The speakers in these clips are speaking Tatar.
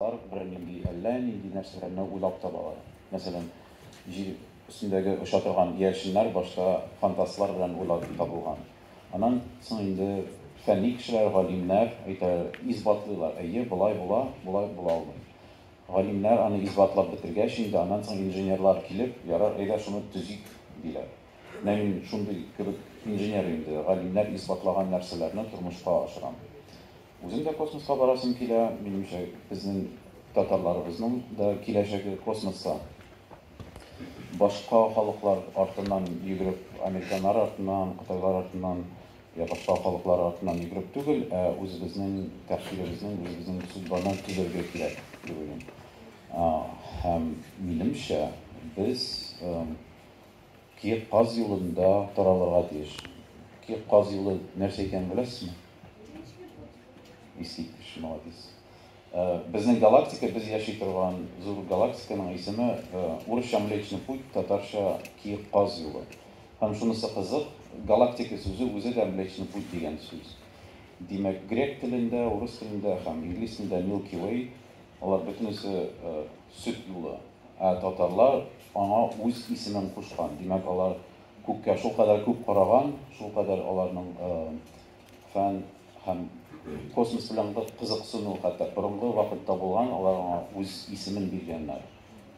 Алар бернинди, әллә нинди нәрсәләрне уйлап табалар. Мәсәлән, җир өстендәге оча торган иярченнәр башта фантастлар белән уйлап табылган. Аннан соң инде фәнни кешеләр, галимнәр әйтә, исбатлыйлар, әйе, болай була, болай була алмый. Галимнәр аны исбатлап бетергәч инде, аннан соң инженерлар килеп, ярар, әйдә шуны төзик, диләр. Менә мин шундый кебек инженер инде, галимнәр исбатлаган нәрсәләрне тормышка ашырам. Үзем дә космоска барасым килә, минемчә безнең татарларыбызның да киләчәге космоста. Башка халыклар артыннан йөгереп, американнар артыннан, кытайлар артыннан, я башка халыклар артыннан йөгереп түгел, ә үзебезнең тәхсилебезнең, үзебезнең судьбаны төзергә кирәк, дип уйлыйм. Һәм минемчә без Ки каз юлында таралырга тиеш. Ки каз юлы нәрсә икәнен беләсезме? Искиткеч, молодец. Безнең галактика, без яши торган зур галактиканың исеме, урысча Млечный путь, татарча Ки каз юлы. Һәм шунысы кызык, галактика сүзе үзе дә Млечный путь дигән сүз. Димәк, грек телендә, урыс телендә һәм инглиз телендә Milky Way, алар бөтенесе, Сөт юлы. Ә татарлар аңа үз исемен кушкан. Димәк, алар күккә шулкадәр күп караган, шулкадәр аларның фән һәм космос белән кызыксыну хәтта борынгы вакытта булган, алар аңа үз исемен биргәннәр.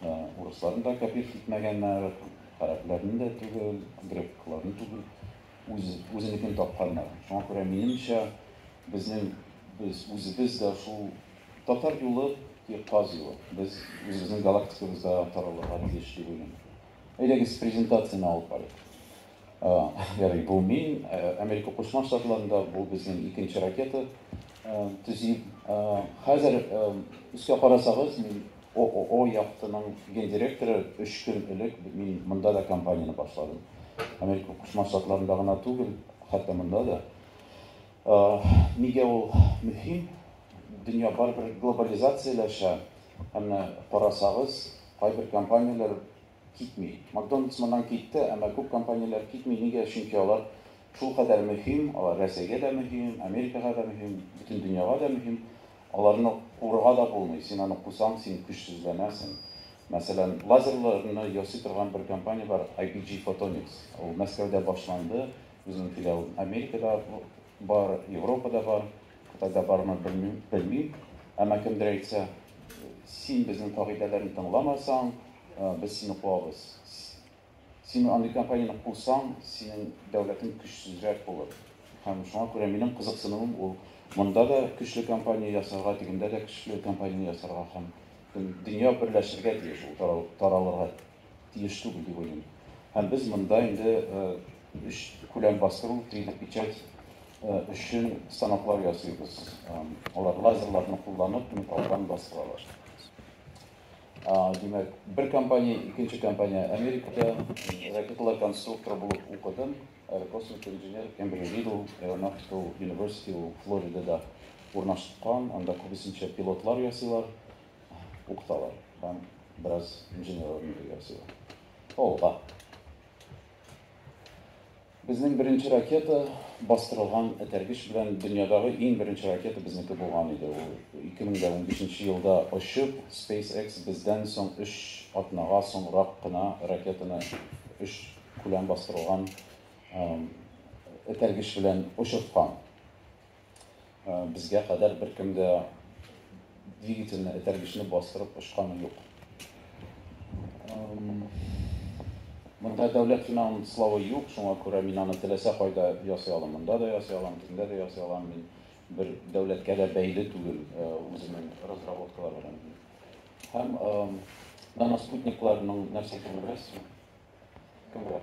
Урысларны да кәпир итмәгәннәр, гарәпләрне дә түгел, грекларны түгел. үз, үзенекен тапканнар. Шуңа күрә, минемчә, безнең, без, үзебез дә шул Татар юлы, ки, Каз юлы. Без үзебезнең галактикабызда таралырга тиеш дип уйлыйм. Әйдәгез, презентацияне алып барыйк. Ярый, бу мин, Америка Кушма Штатларында, бу безнең икенче ракета төзи. Хәзер өскә карасагыз, мин ООО яхтының гендиректоры өч көн элек мин монда да компанияне башладым. Америка Кушма Штатларында гына түгел, хәтта монда да. Нигә ул мөһим? Дөнья барыбер глобализацияләшә. Ә менә карасагыз, кайбер компанияләр Китми. Макдональдс моннан китте, әмма күп компанияләр китми. Нигә? Чөнки алар шулкадәр мөһим, алар Рәсәйгә дә мөһим, Америкага да мөһим, бөтен дөньяга да мөһим. Аларны куырга да булмый. Син аны кусаң, син көчсезләнәсең. Мәсәлән, лазерларны ясый торган бер компания бар, IPG Photonics. Ул Мәскәүдә башланды, безнең филиал Америкада бар, Европада бар. Кытайда бармы, белмим, белмим. Әмма кемдер әйтсә, син безнең кагыйдәләрне тыңламасаң, без сине куабыз. Син андый компанияне кусаң, синең дәүләтең көчсезрәк булыр. Һәм шуңа күрә минем кызыксынуым ул, монда да көчле компания ясарга, тегендә дә көчле компания ясарга һәм бөтен дөнья берләшергә тиеш ул, таралырга тиеш түгел дип уйлыйм. Һәм без монда инде өч күләм бастыру, три д печать, өчен станоклар ясыйбыз. Алар лазерларны кулланып, металлдан бастыралар. Димәк, бер компания, икенче компания Америкада ракеталар конструкторы булып укыдым. Аэрокосмик инженер Эмбри Ридл, Aeronautical University, Флоридада урнашкан, анда күбесенчә пилотлар ясыйлар. укыталар һәм бераз инженерлар белән бергә ясыйлар. Алга. Безнең беренче ракета бастырылган этәргеч белән дөньядагы иң беренче ракета безнеке булган иде. Ул 2015 елда очып, SpaceX бездән соң 3 атнага соңрак кына ракетаны 3 күләм бастырылган этәргеч белән очырткан. Безгә кадәр беркем дә двигательне, этәргечне бастырып очканы юк. Монда дәүләт финанславы юк, шуңа күрә мин аны теләсә кайда ясый алам. Монда да ясый алам, төндә дә ясый алам. Мин бер дәүләткә дә бәйле түгел э, үземнең разработкалар белән. Һәм наностутникларның нәрсә икәнен беләсезме? Кемгә?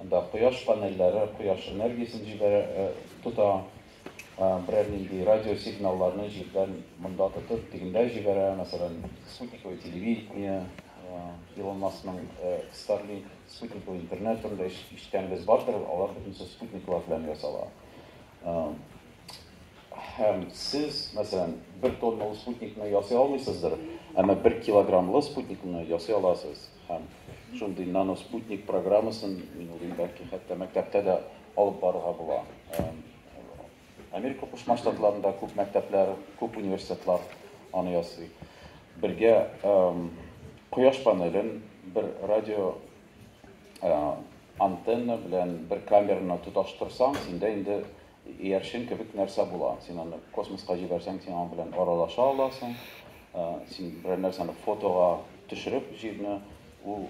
Анда кояш панельләре кояш энергиясен җибәрә, тота, берәр нинди радиосигналларны җирдән монда тотып, тегендә җибәрә, мәсәлән, спутниковое телевидение, Илон Маскның Starlink, спутниковый интернет турында ишеткәнегез бардыр, алар бөтенесе спутниклар белән ясала. Һәм сез, мәсәлән, бер тонналы спутникны ясый алмыйсыздыр, әмма бер килограммлы спутникны ясый аласыз. Һәм шундый наноспутник программасын, мин уйлыйм, бәлки хәтта мәктәптә дә алып барырга була. Америка Кушма Штатларында күп мәктәпләр, күп университетлар аны ясый. Бергә кояш панелен бер радио антенна белән бер камераны тоташтырсаң, синдә инде Иярчен кебек нәрсә була. Син аны космоска җибәрсәң, син аның белән аралаша аласың. Син берәр нәрсәне фотога төшереп җирне, ул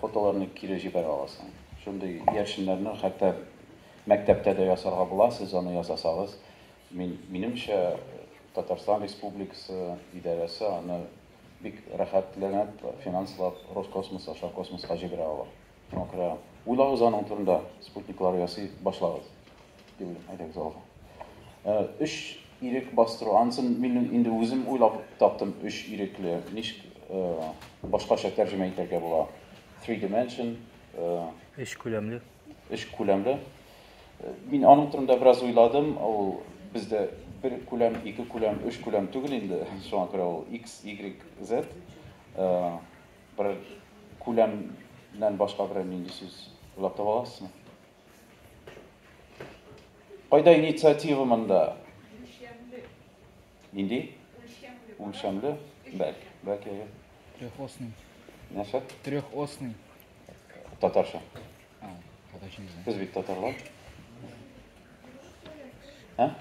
фотоларны кире җибәрә аласың. Шундый иярченнәрне хәтта мәктәптә дә ясарга була, сез аны ясасагыз. Мин, минемчә, Татарстан Республикасы идарәсе аны бик рәхәтләнеп финанслап Роскосмос аша космоска җибәрә ала. Шуңа күрә уйлагыз аның турында, спутниклар ясый башлагыз, дип әйтәбез алга. Ә, өч ирек бастыру, ансын мин инде үзем уйлап таптым, өч ирекле, ничек ә, башкача тәрҗемә итәргә була. Three dimension, ә, Өч күләмле. Өч күләмле. Мин аның турында бераз уйладым, ул бездә бер күләм, ике күләм, өч күләм түгел инде, шуңа күрә ул X, Y, Z. Ә, Бер күләмнән башка берәр нинди сүз уйлап таба аласызмы? Кайда инициатива монда? Нинди? Үлчәмле. Бәлки, бәлки. Трехосный. Нәрсә? Трехосный. Татарча. Сез бит татарлар. Ә?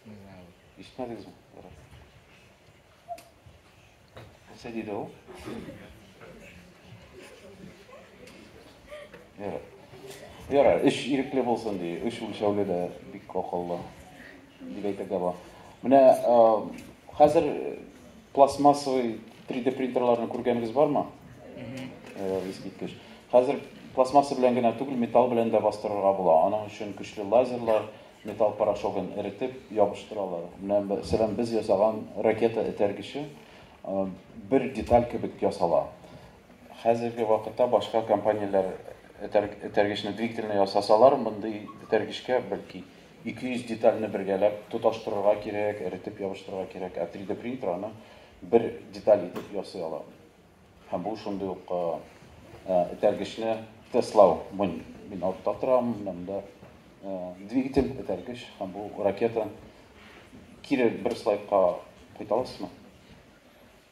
Не знаю. Ишетмәдегезме? Ярар. Нәрсә диде ул? Ярар. Ярар, эш ирекле булсын ди. Эш үлчәүле дә бик акыллы. Дип әйтергә була. Менә хәзер пластмассовый 3D принтерларны күргәнегез бармы? Ярар, искиткеч. Хәзер пластмасса белән генә түгел, металл белән дә бастырырга була. Аның өчен көчле лазерлар, Металл порошогын эретеп ябыштыралар. Менә мәсәлән без ясаган ракета этәргече бер деталь кебек ясала. Хәзерге вакытта башка компанияләр этәргечне двигательне ясасалар, мондый этәргечкә бәлки 200 детальне бергәләп тоташтырырга кирәк, эретеп ябыштырырга кирәк, ә 3D принтер аны бер деталь итеп ясый ала. Һәм бу шундый ук этәргечне тестлау. Мин артта торам, менә монда двигатель, этәргеч һәм бу ракета. Кире бер слайдка кайта аласызмы?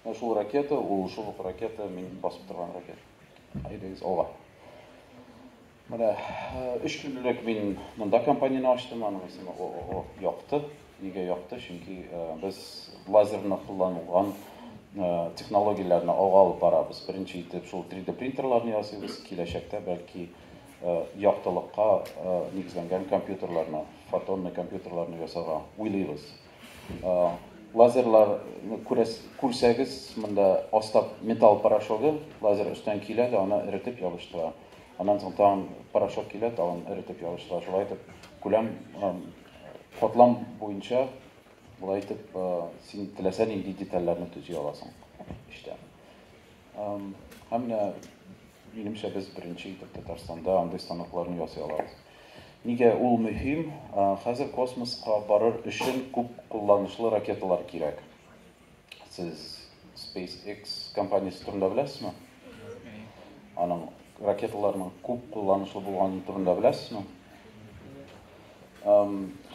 Менә шул ракета, ул шул ук ракета, мин басып торган ракета. Әйдәгез алга. Менә өч көн элек мин монда компанияне ачтым, аның исеме ООО Якты. Нигә Якты? Чөнки без лазерны кулланылган технологияләрне алга алып барабыз. Беренче итеп шул 3D принтерларны ясыйбыз, киләчәктә бәлки яктылыкка нигезләнгән компьютерларны, фотонный компьютерларны ясарга уйлыйбыз. Лазерлар күрсәгез, монда аста металл порошогы, лазер өстән килә дә аны эретеп ябыштыра. Аннан соң тагын порошок килә, тагын эретеп ябыштыра. Шулай итеп, күләм катлам буенча болай итеп син теләсә нинди детальләрне төзи аласың эчтә. Һәм менә, минемчә, без беренче итеп Татарстанда андый станокларны ясый алабыз. Нигә ул мөһим? Хәзер космоска барыр өчен күп кулланышлы ракеталар кирәк. Сез SpaceX компаниясе турында беләсезме? Аның ракеталарының күп кулланышлы булганы турында беләсезме?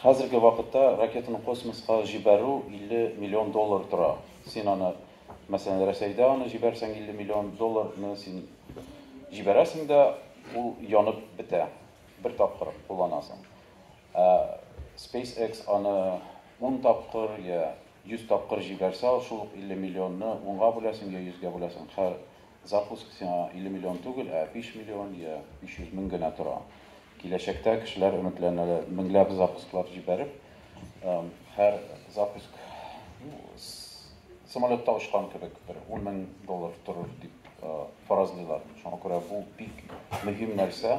Хәзерге вакытта ракетаны космоска җибәрү 50 миллион доллар тора. Син аны Мәсәлән, Рәсәйдә аны җибәрсәң 50 миллион долларны син җибәрәсең дә, ул янып бетә. Бер тапкыр кулланасың. Ә SpaceX аны 10 тапкыр я 100 тапкыр җибәрсә, шул ук 50 миллионны унга бүләсең я йөзгә бүләсең. Хәр Запуск сиңа 50 миллион түгел, ә 5 миллион йә 500 мең генә тора. Киләчәктә кешеләр өметләнәләр, меңләп запусклар җибәреп, һәр запуск самолетта очкан кебек бер ун мең доллар торыр дип фаразлыйлар. Шуңа күрә бу бик мөһим нәрсә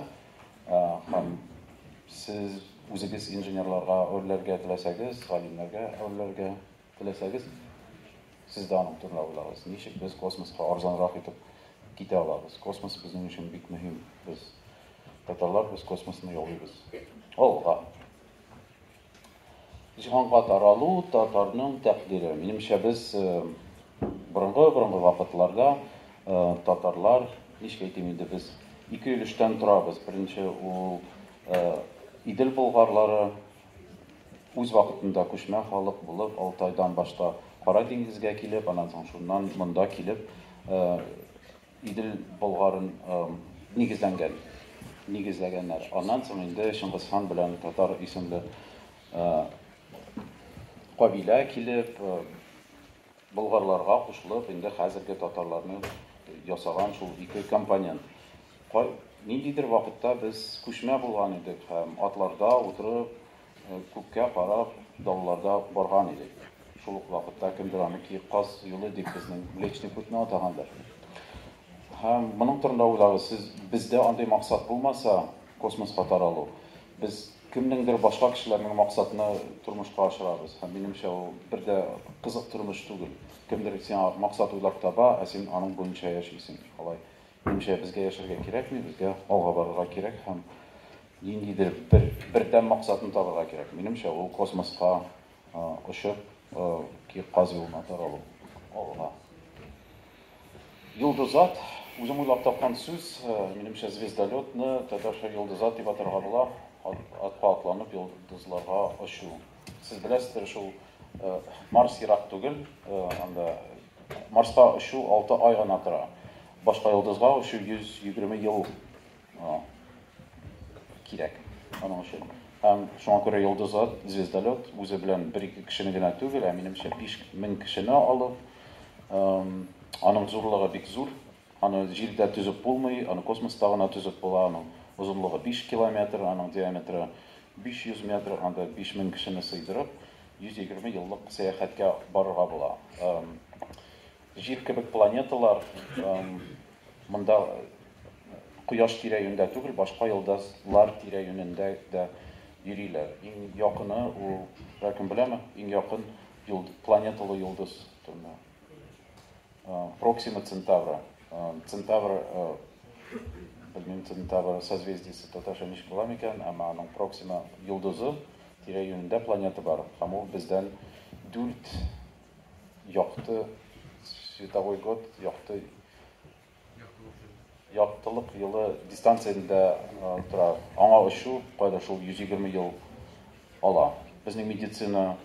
һәм сез үзегез инженерларга әверләргә теләсәгез, галимнәргә әверләргә Теләсәгез, сез дә аның турында уйлагыз, ничек без космоска арзанрак итеп китә алабыз? Космос безнең өчен бик мөһим. Без, татарлар, без космосны яулыйбыз. Алга! Җиһанга таралу, татарның тәкъдире. Минемчә, без борынгы-борынгы вакытларда татарлар, ничек әйтим инде, без ике өлештән торабыз. Беренче ул Идел болгарлары, Үз вакытында күчмә халык булып Алтайдан башта Кара диңгезгә килеп, аннан соң шуннан монда килеп Идел болгарын нигезләнгән, нигезләгәннәр. Аннан соң инде Чыңгыз хан белән татар исемле кабилә килеп, Болгарларга кушылып, инде хәзерге татарларны ясаган шул ике компонент. Кай, ниндидер вакытта без күчмә булган идек һәм атларда утырып, күккә карап, далаларда барган идек. Шул ук вакытта кемдер аны Киек Каз юлы дип безнең Млечный путьны атагандыр. Һәм моның турында уйлагыз, сез, бездә андый максат булмаса, космоска таралу, без Кемнеңдер башка кешеләрнең максатына тормышка ашырабыз һәм минемчә ул бер дә кызык тормыш түгел. Кемдер сиңа максат уйлап таба, ә син аның буенча яшисең. Алай. Минемчә безгә яшәргә кирәкми, безгә алга барырга кирәк һәм ниндидер бер бердәм максатны табырга кирәк. Минемчә ул космоска очып, ки каз юлына таралу. Алга. Йолдызат, үзем уйлап тапкан сүз, минемчә звездолетны татарча йолдызат дип атарга була, атка атланып йолдызларга очу. Сез беләсездер шул, Марс ерак түгел, анда Марска очу алты ай гына тора, башка йолдызга очу 120 ел кирәк аның өчен. Һәм шуңа күрә йолдызлар, звездолет, үзе белән бер-ике кешене генә түгел, ә минемчә 5000 кешене алып, аның зурлыгы бик зур, аны җирдә төзеп булмый, аны космоста гына төзеп була, аның озынлыгы 5 километр, аның диаметры 500 метр, анда 5000 кешене сыйдырып, 120 еллык сәяхәткә барырга була. Җир кебек планеталар монда Кояш тирә-юньдә түгел, башка йолдыз лар тирә-юнендә дә йөриләр. Иң якыны ул, беркем беләме, иң якын планеталы йолдыз төбенә? Проксима Центавра. Центавр, белмим, Центавр созвездиесе татарча ничек була микән, әмма аның Проксима йолдызы тирә-юнендә планета бар, һәм ул бездән дүрт якты световой год, якты яктылык елы дистанциясендә тора. Аңа очу кайда шул 120 ел ала. Безнең медицина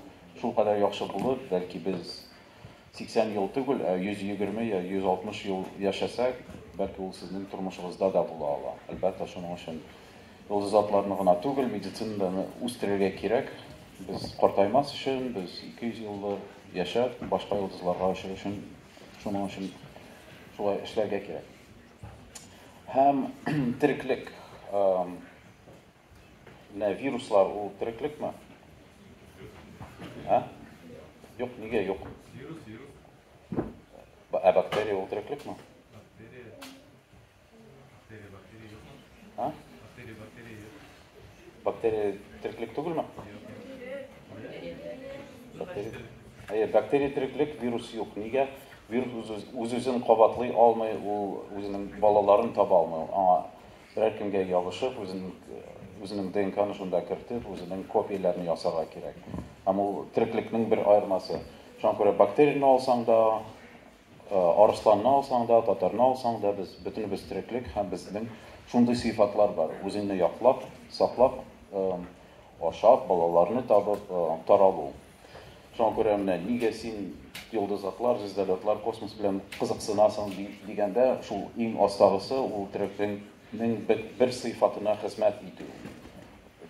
шул кадәр яхшы булып, бәлки без 80 ел түгел, ә 120 я 160 ел яшәсәк, бәлки ул сезнең тормышыгызда да була ала. Әлбәттә, шуның өчен Йолдыз атларны гына түгел, медицинаны да үстерергә кирәк. Без картаймас өчен, без 200 еллар яшәп, башка йолдызларга очыр өчен, шуның өчен шулай эшләргә кирәк. Һәм тереклек, менә вируслар ул тереклекме? Ә? Юк, нигә юк? Вирус, вирус. Ә бактерия ул тереклекме? Бактерия, бактерия юк. А? Бактерия, бактерия юк. Бактерия тереклек түгелме? Бактерия. Әйе, бактерия тереклек, вирус юк. Нигә? Вирус үз-үзен кабатлый алмый, ул үзенең балаларын таба алмый. Аңа берәр кемгә ябышып, үзен үзенең ДНКны шунда кертеп, үзенең копияләрен ясарга кирәк. Һәм ул тереклекнең бер аермасы. Шуңа күрә бактерияне алсаң да, Арысланны алсаң да, татарны алсаң да, без бөтенебез тереклек һәм безнең шундый сыйфатлар бар, үзеңне яклап, саклап, ашап, балаларны табып, таралу. Шуңа күрә менә нигә син йолдызлыклар, звездолетлар, космос белән кызыксынасың дигәндә, шул иң астагысы ул тереклекнең бер сыйфатына хезмәт итү.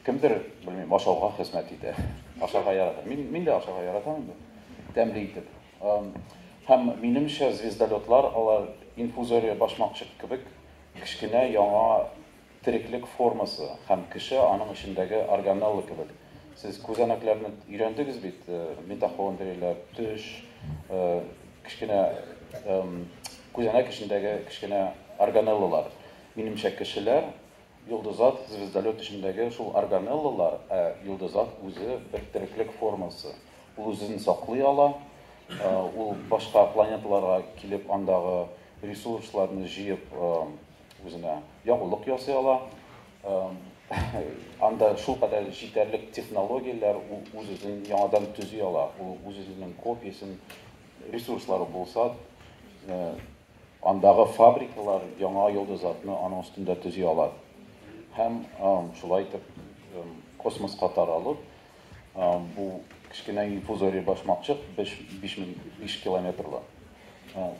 Кемдер, белмим, ашауга хезмәт итә, ашарга ярата. Мин дә ашарга яратам инде, тәмле итеп. Һәм, минемчә, звездолетлар, алар инфузория башмакчык кебек кечкенә яңа тереклек формасы, һәм кеше аның эчендәге органелла кебек. Сез күзәнәкләрне өйрәндегез бит, митохондрияләр, төш, кечкенә күзәнәк эчендәге кечкенә органеллалар. Минемчә, кешеләр, Йолдызат, звездолет эчендәге шул органеллалар, ә йолдызат үзе бер тереклек формасы. Ул үзен саклый ала, ул башка планеталарга килеп андагы ресурсларны җыеп үзенә ягулык ясый ала. Анда шулкадәр җитәрлек технологияләр, ул үз-үзен яңадан төзи ала, ул үз-үзенең копиясен, ресурслары булса, Андагы фабрикалар яңа йолдызатны аның өстендә төзи алар һәм шулай итеп космоска таралып, бу кечкенә инфузория башмакчык биш биш мең биш километрлы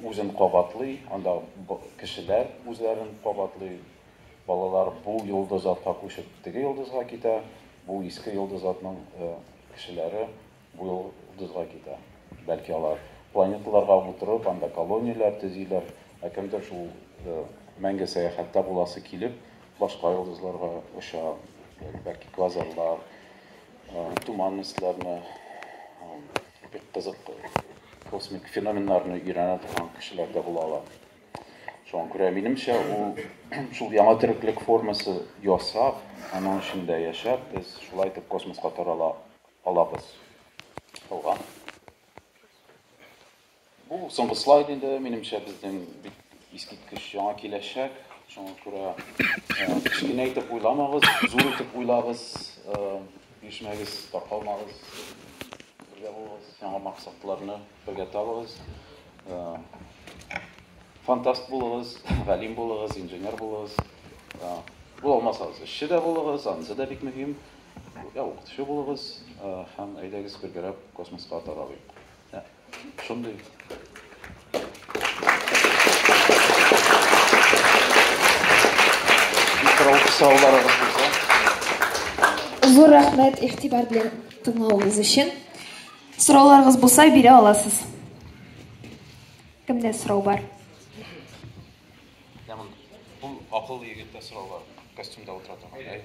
үзен кабатлый, анда кешеләр үзләрен кабатлый, балалар бу йолдызатка күчеп теге йолдызга китә, бу иске йолдызатның кешеләре Бу йолдызга китә. Бәлки алар планеталарга утырып, анда колонияләр төзиләр, ә кемдер шул мәңге сәяхәттә буласы килеп, башка йолдызларга оча, бәлки квазарлар, туман мисләрне, бик кызык космик феноменнарны өйрәнә торган кешеләр дә була ала. Шуңа күрә минемчә ул шул яңа тереклек формасы ясап, аның эчендә яшәп, без шулай итеп космоска тарала алабыз. Калган. Бу соңгы слайд инде, минемчә, безнең бик искиткеч яңа киләчәк. Шуңа күрә кечкенә итеп уйламагыз, зур итеп уйлагыз, бирешмәгез, таркалмагыз, бергә булыгыз, яңа максатларны бергә табыгыз. Фантаст булыгыз, галим булыгыз, инженер булыгыз. Бу алмасагыз, эшче дә булыгыз, анысы да бик мөһим. Ә укытучы булыгыз һәм әйдәгез бергәрәп космоска таралыйк. Шундый сорауларыгыз булса. Зур рәхмәт игътибар белән тыңлавыгыз өчен. Сорауларыгыз булса бирә аласыз. Кемдә сорау бар? Яман. Бу акыллы егеттә сораулар. Костюмда утыра торган.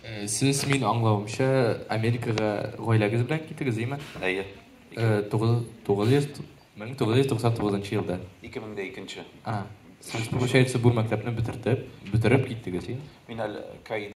Э, сез мин аңлавымча Америкага гаиләгез белән китегез, име? Әйе. 1999 елда. 2002. А. Сез получается бу мәктәпне бетердеп, бетереп киттегез, име? Мин әле